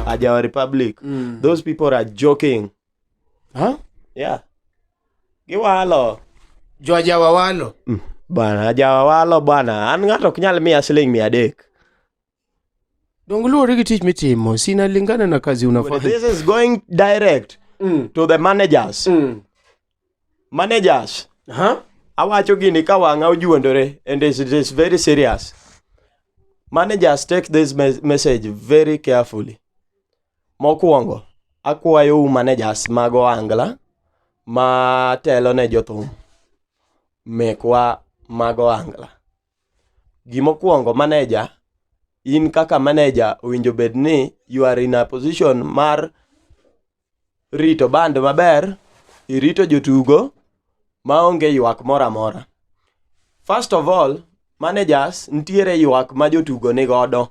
ajawa republic mm. those people are joking huh? yeah giwalo jo ajawa walo mm. bwana ajawa walo bwana an ng'ato ok nyal miya siling mia adek Donge luwore gi tich mitimo, sina lingana na kazi unafanya. This is going direct mm. to the managers. Mm. Managers. Huh? Awacho gini ka wang'a ojuondore and it is very serious. Managers take this message very carefully. Mokwongo, akwayo u managers mag Ohangla ma telo ne jothum mekwa mag Ohangla. Gimokwongo maneja, in kaka maneja owinjo bed ni you are in a position mar rito band maber, irito jotugo maonge ywak moro amora. First of all, managers nitiere ywak ma jotugo nigodo.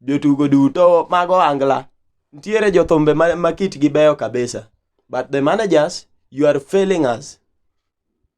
Jotugo duto mag ohangla nitiere jothumbe ma kitgi beyo kabisa but the managers you are failing us.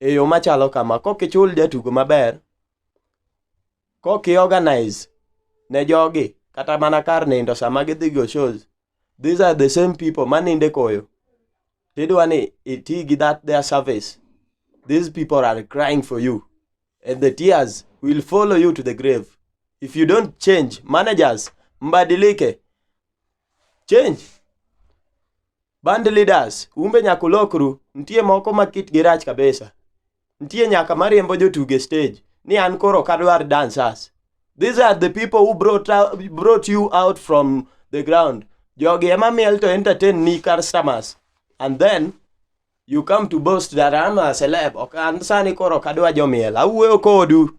e yo machalo kama, kok ichul jatugo maber, kok i organize ne jogi kata mana kar nindo sama gidhi go shows, these are the same people manindo e koyo tidwa ni iti gi that their service. These people are crying for you and the tears will follow you to the grave. If you don't change, managers, mbadilike, change. Band leaders, umbe nyaka ulokru. Nitie moko ma kitgi rach kabisa. Nitie nyaka mariembo jotugo e stage ni an koro ok adwar dancers. These are the people who brought, out, brought you out from the ground. Jogi ema miel to entertain ni customers. And then you come to boast that I'm a celeb. Ok an sani koro ok adwa jomiel. Awuoyo kodu.